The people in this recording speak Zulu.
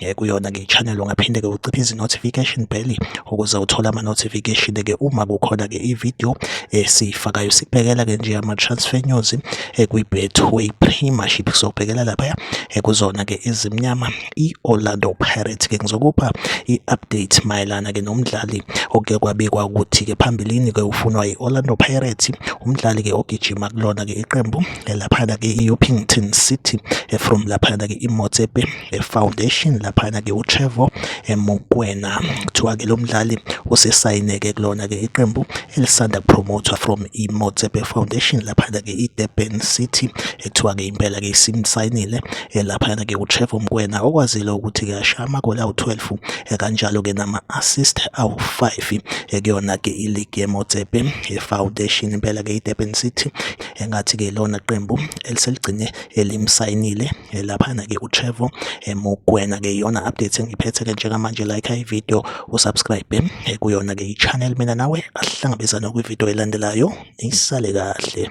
eh, kuyona ke channel ungaphinde ke uciphe izi notification bell ukuze uthole ama notification ke uma kukhona ke i video esifakayo eh, sibhekela ke nje ama transfer news eh, kwi Betway Premiership sobhekela lapha kuzona ke izimnyama i Orlando Pirates ke ngizokupha i update mayelana ke nomdlali oke kwabikwa ukuthi ke phambilini ke ufunwa i Orlando Pirates umdlali ke ogijima kulona ke iqembu lapha ke i Upington City from lapha ke i Motsepe eh, Foundation laphana-ke uTrevo eh, Mokwena kuthiwa-ke lo mdlali usesayineke kulona-ke iqembu elisanda kupromothwa from i-Motsepe Foundation laphana-ke i-Durban City ekuthiwa-ke eh, impela-ke isimsayinile laphana-ke uTrevo Mokwena okwazile ukuthi-ke asha amagoli awu-12 kanjalo-ke nama-assist awu-5 kuyona-ke iligi ye-Motsepe Foundation impela-ke i-Durban City engathi-ke lona qembu eliseligcine elimsayinile eh, laphana-ke uTrevo eh, Mokwena-ke iyona update engiphethe-ke njengamanje like ivideo usubscribe eh, kuyona-ke i-channel mina nawe asihlangabezane kwivideo elandelayo nisale kahle